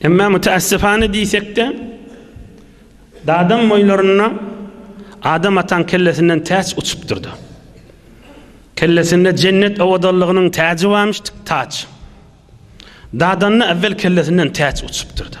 Emma müteässifane diýsek-de, Dadaň boýlarynda Adam ataň kellesinden täç uçupdyr-da. Kellesinde jennet owadanlygynyň täji barmyşdyk, taç. Dadanda äwwel kellesinden täç uçupdyr-da.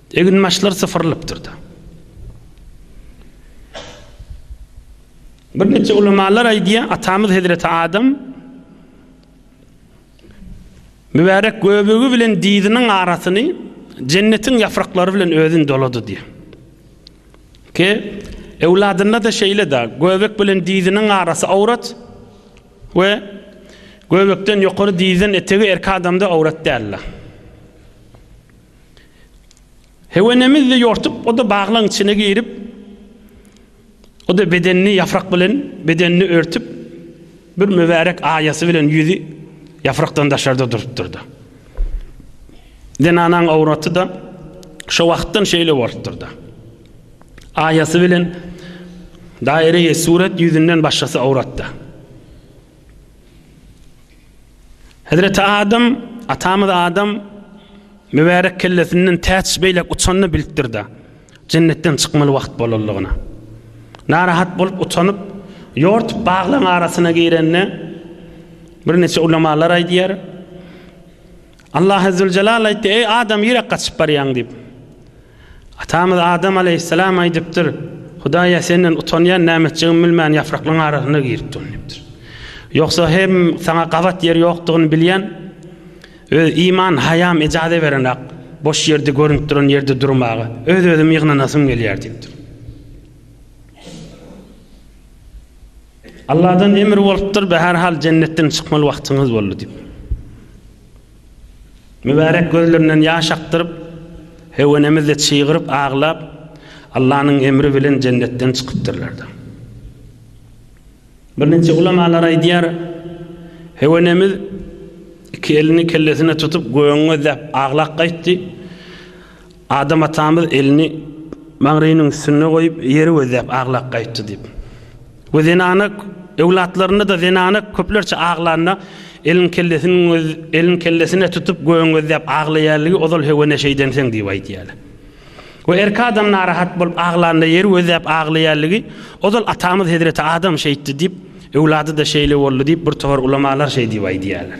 Eginbaşlar sypyrylypdyr-da. Birnäçe ulamalar aýdýar, atamyz hezreti Adam mübärek göbegi bilen dyzynyň arasyny jennetiň ýapraklary bilen özün dolady diýýär. Ki, öwladynda-da şeýle-de, göbek bilen dyzynyň arasy awrat we göbekden ýokary dyzdan etegi erki adamda awrat däldir. Hewenemizi ýortup, o-da baglaň içine girip, o-da bedenini ýaprak bilen bedenini örtüp, bir mübärek aýasy bilen ýüzi ýaprakdan daşarda durupdyr-da. Zenanaň awraty-da şo wagtdan şeýle bolupdyr-da. Aýasy bilen daýreýi surat ýüzünden başgasy awrat-da. Hezreti Adam, atamyz Adam mübärek kellesinden täç beýläk uçanyny bilipdir-de, jennetden çykmaly wagt bolanlygyna. Narahat bolup utanyp, ýortup baglaryň arasyna girende, birniçe ulamalar aýdýar, Allah Ezzüljelal aýtdy, Eý, Adam, nirä gaçyp barýaň? diýip. Atamyz Adam aleýhissalam aýdypdyr, Hudaýa senden utanýan nämetjigimi bilmän ýapraklaryň arasyna girip durun diýipdir. Ýogsa hem saňa gabat ýer ýokdugyny bilýän, öz iman haýam ejaze berenak, boş ýerde görünip duran ýerde durmaga, öz özümi ýygnanasym gelýär diýipdir. Allahdan emir bolupdyr, bäherhal jennetden çykmaly wagtyňyz boldy diýip. Mübärek gözlerinden ýaş akdyryp, höwenemizi çygyryp aglap, Allanyň emri bilen jennetden çykypdyrlar-da. Birnäçe ulamalar aýdýar, höwenemiz iki elini kellesine tutup gögüň gözläp aglap gaýtdy. Adam atamyz elini Maňrynyň üstünde goýup, ýeri gözläp aglap gaýtdy diýip. We zenana öwlatlarynda-da zenana köplerçe aglanda, elin kellesiniň öz elin kellesine tutup gögüň gözläp aglaýarligi ozal höwe neşe edenseň diýip aýdýarlar. We erki adam narahat bolup aglanda ýeri gözläp aglaýarligi ozal atamyz hezreti Adam şeýtdi diýip, öwlady-da şeýle boldy diýip bir tohar ulamalar şeý diýip aýdýarlar.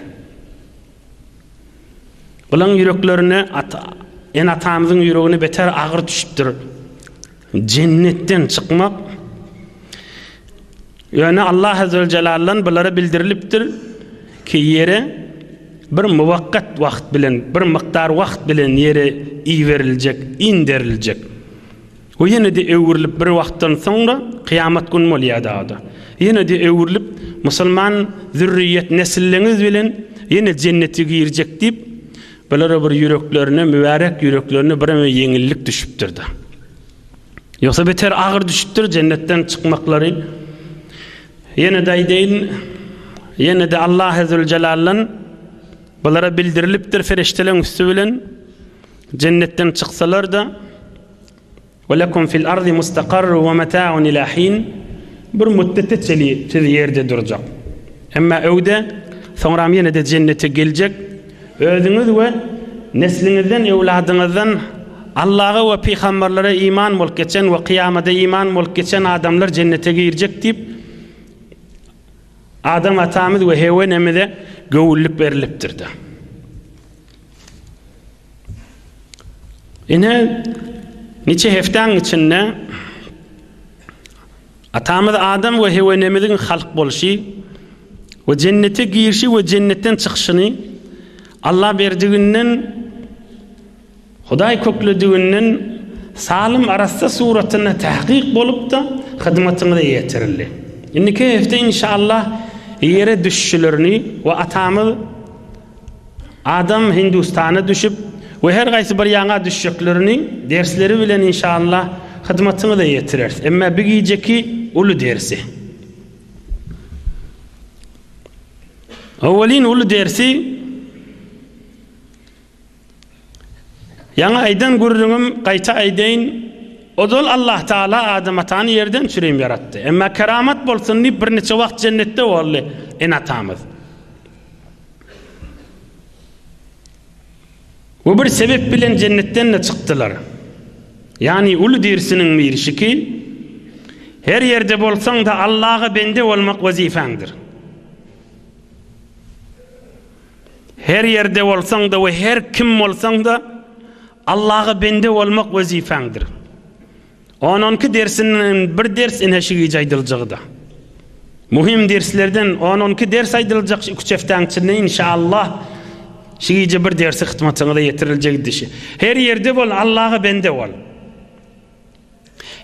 Bularyň ýüreklerine ata, ene-atamyzyň ýüregine beter agyry düşüpdir. Jennetden çykmak Ýöne Allah Azzewejelle'den bulara bildirilipdir ki ýere bir muwakkat wagt bilen, bir mykdar wagt bilen ýere iýberiljek, inderiljek. We ýene-de öwrülip bir wagtdan soňra, kyýamat gün bolýar dagda, ýene-de öwrülip, musulman zürriýet, nesilleňiz bilen ýene jennete girjek diýip, bulara bir ýüreklerine, mübärek ýüreklerine bireme ýeňillik düşüpdir-de. Ýogsa beter agyr düşüpdir jennetden çykmaklary. Ýene-de aýdaýyn, ýene-de Allah Ezzüljelaldan bulara bildirilipdir ferişdeleriň üsti bilen, jennetden çyksalar-da, Ve lekum fil ardi mustaqarru ve meta'un ila hin. Bir müddete çenli siz ýerde durjak. Emma öwde, soňram ýene-de jennete geljek. Özüňiz ve nesliňizden, öwladyňyzdan Allaha ve pygamberlere iman bolup geçen ve kyýamada iman bolup geçen adamlar jennete girjek diýip, Adam atamyz ve Hewe enemize göwünlik berilipdir-de. Ine, niçe hepdäň içinde atamyz Adam we Heweneemiziň halk bolşy we jennete girişi we jennetden çykyşyny Allaberdiginden, Hudaý köklediginden salym arassa suratynda täkyk bolup-da hyzmatyňyza ýetirildi. Indiki hepde inşallah ýere düşüşlerini we atamyz Adam Hindustana düşüp we her gaýsy bir ýaňa düşjeklerini dersleri bilen inşallah hyzmatyňyza ýetireris. Emma bi gijeki uly dersi. Owelin uly dersi Ýaňy aýdan gürrüňim gaýta aýdaýyn. Ozal Allah Taala Adam atany ýerden çürim ýaratdy. Emma keramat bolsun diýip birniçe wagt jennetde boldy ene atamyz. We bir sebep bilen jennetden-de çykdylar. Ýagny uly dirsiniň birşiki, Her ýerde bolsaň-da Allaha bende bolmak wezipäňdir. Her ýerde bolsaň-da we her kim bolsaň-da Allaha bende bolmak wezipäňdir. On onki dersinden bir ders ine şu gije aýdyljagyda. Muhim derslerden on onki ders aýdyljak iki üç hepdäň içinde inşallah şu gije bir dersi hytmatyňyza ýetiriljek dişi. Her ýerde bol Allaha bende bol.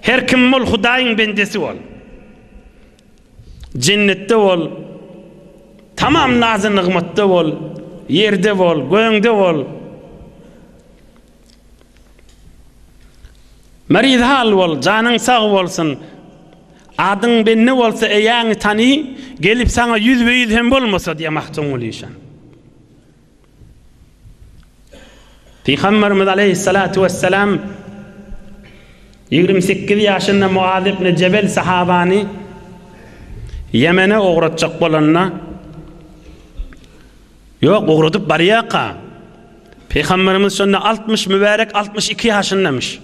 Her kim bol Hudaýyň bendesi bol. Jennetde bol. Tamam nazy nygmatda bol. Ýerde bol, göňde bol. Maryzhal bol, janyň sag bolsun. Adyň bende bolsa eýäňi tany, gelip saňa ýüzbe-ýüz hem bolmasa diýýär Magtymguly işan. Pygamberimiz aleýhissalatu wessalam ýigrimi sekiz ýaşynda Muaz ibn Jebel sahabany Ýemene ugratjak bolanda, Ýok, ugradyp barýarka. Pygamberimiz şonda altmyş mübärek altmyş iki ýaşyndamyş.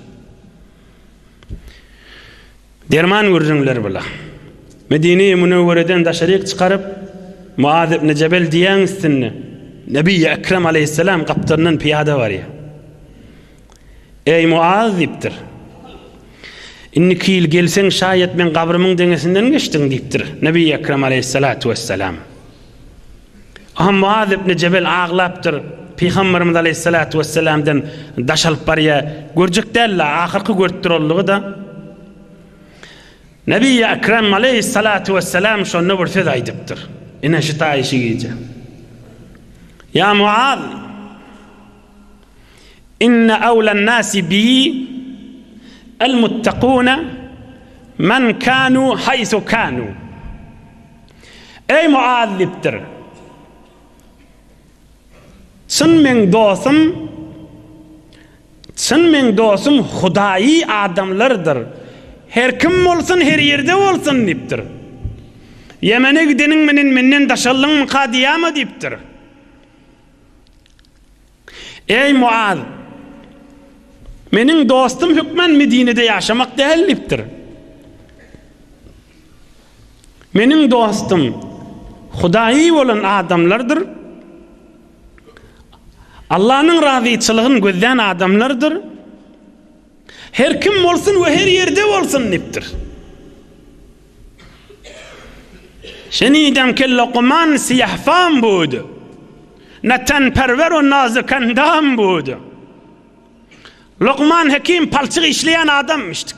Derman gürrüňleri bula. Medine-i Münewwereden daşaryk çykaryp, Muaz ibn Jebel diýäň üstünde, Nebi-i Ekrem aleýhisselam gapdalyndan pyýada barýar. Eý, Muaz! diýipdir. Indiki ýyl gelseň, şaýat meň gabrymyň deňesinden geçdiň diýipdir, Nebi Ekrem aleýhissalatu wessalam. Aham Muaz ibn Jebel aglapdyr, Pygamberimiz aleýhissalatu wessalamdan daş alyp barýar, görjek däl-le, ahyrky görüp duranlygy-da. Nebi Ekrem aleýhissalatu wessalam şonda bir söz aýdypdyr, ine şu taýy şu gije. Ýa Muaz! Inne awlan nasi bi el muttakuna men kanu haysu kanu. Eý Muaz diýipdir. Çyn meň dostum Çyn meň dostum Hudaýy adamlardyr. Her kim bolsun, her ýerde bolsun diýipdir. Ýemene gideniň menen menden daşaldyňmy ka diýýärmi diýipdir. Eý, Muaz! Meniň dostum hökmän Medinede ýaşamak däl diýipdir. Meniň dostum Hudaýy bolan adamlardyr. Allanyň razyçylygyn gözlän adamlardyr. Her kim bolsun we her ýerde bolsun diýipdir. Şeýle diýýän kelleguman syýahfam budy. Natanperwer we nazykendam budy. Lukman Hekim palçyk işleýän adamymyşdyk.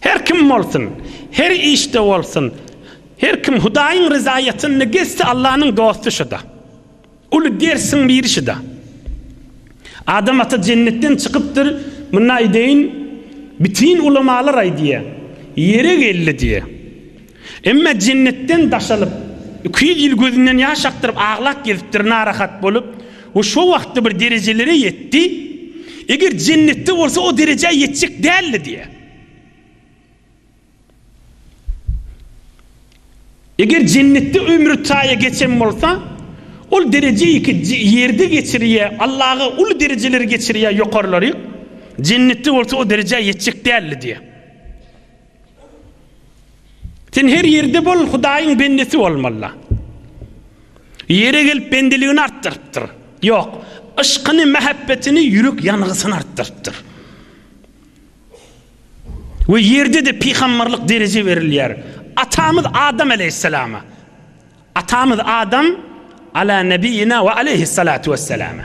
Her kim bolsun, her işde bolsun, her kim Hudaýyň ryzaýatyny gezse Allanyň dosty şuda. Uly dersiň biri şuda. Adam ata jennetden çykypdyr, munda eýdeýin, bütin ulamalar aýdýar, ýere geldi diýýär. Emma jennetden daş alyp, iki ýüz ýyl gözünden ýaş akdyryp aglap gezipdir, narahat bolup we şo wagtda bir derejelere ýetdi, eger jennetde bolsa o derejä ýetjek däldi diýýär. Eger jennetde ömri taýa geçen bolsa, ol derejeýi ki ýerde geçirýä, Allaga uly derejeleri geçirýä ýokarlaryk, jennetde bolsa o derejä ýetjek däldi diýýär. Sen her ýerde bol, Hudaýyň bendesi bolmala. Ýere gelip bendeligini artdyrypdyr. Ýok, yşkyny, mähebbetini, ýürek ýangysyny artdyrypdyr. We ýerde-de pygamberlik dereje berilýär. Atamyz Adam aleýhissalama. Atamyz Adam, Ala nebiýina we aleyhissalatu wesselama.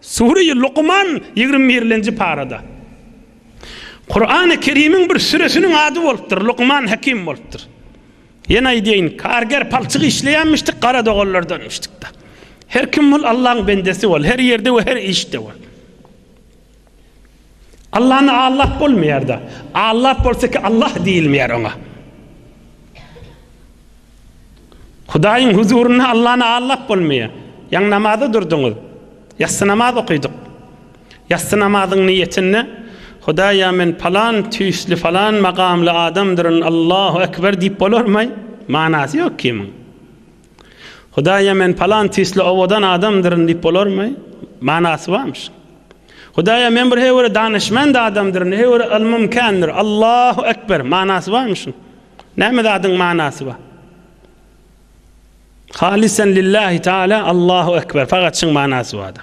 Sure-i Lukman ýigrimi birlenji parada. Kurany Kerimiň bir süresiniň ady bolupdyr, Lukman Hekim bolupdyr. Ýene aýdaýyn, karger palçyk işleýänmişdik, gara doganlardanmyşdyk-da. Her kim bol, Allaň bendesi bol, her ýerde we her işde bol. Allany allap bolmaýar-da. Allap bolsa ki Allah diýilmeýär oňa. Hudaýyň huzurynda Allany allap bolmaýar. Ýaňy namaza durduňyz. Ýassy namaz okydyk. Ýassy namazyň niýetinde Hudaýa men palan tüýsli falan magamly adamdyryn Allahu ekber diýip bolarmaý? Manasy ýok kimiň. Hudaýa men palan tisli owadan adamdyryn diýip bolarmy? Manasy barmyş. Hudaýa men bir heýwere danyşmand adamdyryn, heýwere ylmym kändir. Allahu ekber! Manasy barmy şuň? Näme zadyň manasy bar? Halysan lillahi taala Allahu ekber! Fagat şuň manasy bar-da.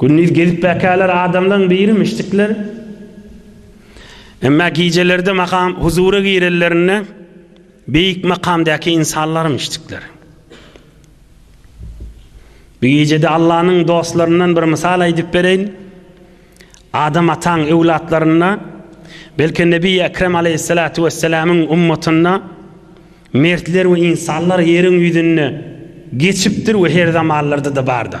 Gündiz gezip bäkäler adamlaň birimişdikler. Emma gijelerde makam huzura girenlerinde beýik makamdaky insanlarmyşdikler. Bu gijede Allanyň dostlaryndan bir mysal aýdyp bereýin. Adam ataň öwlatlarynda, belki Nebi Ekrem aleýhissalatu wessalamyň ummatynda Mertler we ynsanlar ýeriň ýüzünde geçipdir we her zamanlarda-da bardyr.